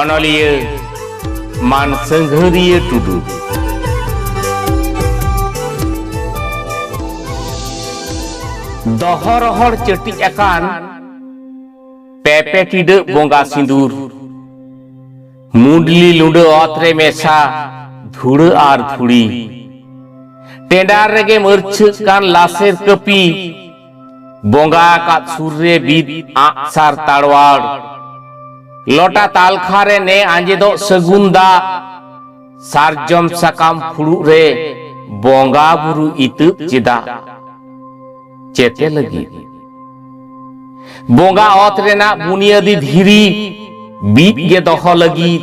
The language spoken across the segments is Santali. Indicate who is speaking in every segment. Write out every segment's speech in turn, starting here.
Speaker 1: ᱚᱱᱚᱞᱤᱭᱟᱹ ᱢᱟᱱ ᱥᱟᱹᱝᱜᱷᱟᱹᱨᱤᱭᱟᱹ ᱴᱩᱰᱩ ᱫᱚᱦᱚ ᱨᱚᱦᱚᱲ ᱪᱟᱹᱴᱤᱡ ᱟᱠᱟᱱ ᱯᱮᱯᱮ ᱴᱤᱰᱟᱹᱜ ᱵᱚᱸᱜᱟ ᱥᱤᱸᱫᱩᱨ ᱢᱩᱰᱞᱤ ᱞᱩᱸᱰᱟᱹ ᱚᱛ ᱨᱮ ᱢᱮᱥᱟ ᱫᱷᱩᱲᱟᱹ ᱟᱨ ᱫᱷᱩᱲᱤ ᱴᱮᱸᱰᱟᱨ ᱨᱮᱜᱮ ᱢᱟᱹᱨᱪᱷᱟᱹᱜ ᱠᱟᱱ ᱞᱟᱥᱮᱨ ᱠᱟᱹᱯᱤ ᱵᱚᱸᱜᱟ ᱟᱠᱟᱫ ᱥᱩᱨ ᱨᱮ ᱵᱤᱫ ᱟᱸᱜᱥᱟᱨ ᱛᱟᱲᱣᱟᱲ ᱞᱚᱴᱟ ᱛᱟᱞᱠᱷᱟ ᱨᱮ ᱱᱮ ᱟᱸᱡᱮᱫᱚᱜ ᱥᱟᱹᱜᱩᱱ ᱫᱟᱜ ᱥᱟᱨᱡᱚᱢ ᱥᱟᱠᱟᱢ ᱯᱷᱩᱲᱩᱜ ᱨᱮ ᱵᱚᱸᱜᱟ ᱵᱩᱨᱩ ᱤᱛᱟᱹᱵ ᱪᱮᱫᱟᱜ ᱪᱮᱛᱮ ᱞᱟᱹᱜᱤᱫ ᱵᱚᱸᱜᱟ ᱚᱛ ᱨᱮᱱᱟᱜ ᱵᱩᱱᱤᱭᱟᱹᱫᱤ ᱫᱷᱤᱨᱤ ᱵᱤᱫ ᱜᱮ ᱫᱚᱦᱚ ᱞᱟᱹᱜᱤᱫ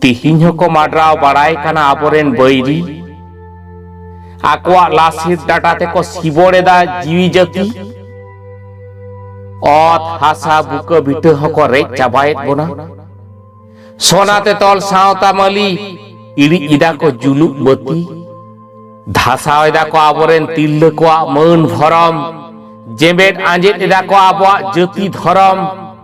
Speaker 1: ᱛᱤᱦᱤᱧ ᱦᱚᱸᱠᱚ ᱢᱟᱰᱨᱟᱣ ᱵᱟᱲᱟᱭ ᱠᱟᱱᱟ ᱟᱵᱚᱨᱮᱱ ᱵᱟᱹᱭᱨᱤ ᱟᱠᱚᱣᱟᱜ ᱞᱟᱥᱤᱨ ᱰᱟᱴᱟ ᱛᱮᱠᱚ ᱥᱤᱵᱚᱲ ᱮᱫᱟ ᱡᱤᱣᱤ ᱡᱟᱹᱛᱤ ᱚᱛ ᱦᱟᱥᱟ ᱵᱩᱠᱟᱹ ᱵᱤᱴᱟᱹ ᱦᱚᱸᱠᱚ ᱨᱮᱡ ᱪᱟᱵᱟᱭᱮᱫ ᱵᱚᱱᱟ ᱥᱚᱱᱟᱛᱮ ᱛᱚᱞ ᱥᱟᱶᱛᱟ ᱢᱟᱹᱞᱤ ᱤᱲᱤᱡ ᱮᱫᱟ ᱠᱚ ᱡᱩᱞᱩᱜ ᱵᱟᱹᱛᱤ ᱫᱷᱟᱥᱟᱣ ᱮᱫᱟ ᱠᱚ ᱟᱵᱚᱨᱮᱱ ᱛᱤᱨᱞᱟᱹ ᱠᱚᱣᱟᱜ ᱢᱟᱹᱱ ᱵᱷᱚᱨᱚᱢ ᱡᱮᱢᱵᱮᱫ ᱟᱸᱡᱮᱫ ᱮᱫᱟ ᱠᱚ ᱟᱵᱚᱣᱟᱜ ᱡᱟᱹᱛᱤ ᱫᱷᱚᱨᱚᱢ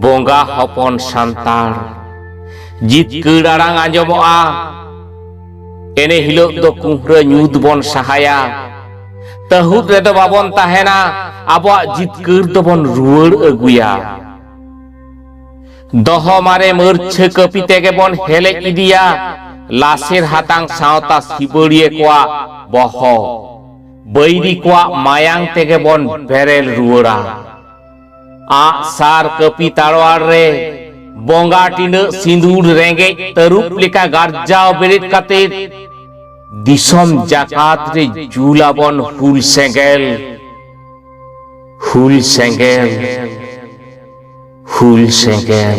Speaker 1: ᱵᱚᱸᱜᱟ ᱦᱚᱯᱚᱱ ᱥᱟᱱᱛᱟᱲ ᱡᱤᱛᱠᱟᱹᱲ ᱟᱲᱟᱝ ᱟᱸᱡᱚᱢᱚᱜᱼᱟ ᱮᱱᱮ ᱦᱤᱞᱳᱜ ᱫᱚ ᱠᱩᱦᱨᱟᱹ ᱧᱩᱛ ᱵᱚᱱ ᱥᱟᱦᱟᱭᱟ ᱛᱟᱹᱦᱩᱫ ᱨᱮᱫᱚ ᱵᱟᱵᱚᱱ ᱛᱟᱦᱮᱱᱟ ᱟᱵᱚᱣᱟᱜ ᱡᱤᱛᱠᱟᱹᱨ ᱫᱚᱵᱚᱱ ᱨᱩᱣᱟᱹᱲ ᱟᱹᱜᱩᱭᱟ ᱫᱚᱦᱚ ᱢᱟᱨᱮ ᱢᱟᱹᱨᱪᱷᱟᱹ ᱠᱟᱹᱯᱤ ᱛᱮᱜᱮ ᱵᱚᱱ ᱦᱮᱞᱮᱡ ᱤᱫᱤᱭᱟ ᱞᱟᱥᱮᱨ ᱦᱟᱛᱟᱝ ᱥᱟᱶᱛᱟ ᱥᱤᱵᱟᱹᱲᱤᱭᱟᱹ ᱠᱚᱣᱟᱜ ᱵᱚᱦᱚᱜ ᱵᱟᱹᱭᱨᱤ ᱠᱚᱣᱟᱜ ᱢᱟᱭᱟᱝ ᱛᱮᱜᱮ ᱵᱚᱱ ᱵᱮᱨᱮᱞ ᱨᱩᱣᱟᱹᱲᱟ ᱟᱜ ᱥᱟᱨ ᱠᱟᱹᱯᱤ ᱛᱟᱲᱣᱟᱲ ᱨᱮ ᱵᱚᱸᱜᱟ ᱴᱤᱱᱟᱹᱜ ᱥᱤᱸᱫᱩᱨ ᱨᱮᱸᱜᱮᱡ ᱛᱟᱹᱨᱩᱵ ᱞᱮᱠᱟ ᱜᱟᱨᱡᱟᱣ ᱵᱮᱨᱮᱫ ᱠᱟᱛᱮ ᱫᱤᱥᱚᱢ ᱡᱟᱠᱟᱛ ᱨᱮ ᱡᱩᱞᱟᱵᱚᱱ ᱦᱩᱞ ᱥᱮᱸᱜᱮᱞ ᱦᱩᱞ ᱥᱮᱸᱜᱮᱞ ᱦᱩᱞ ᱥᱮᱸᱜᱮᱞ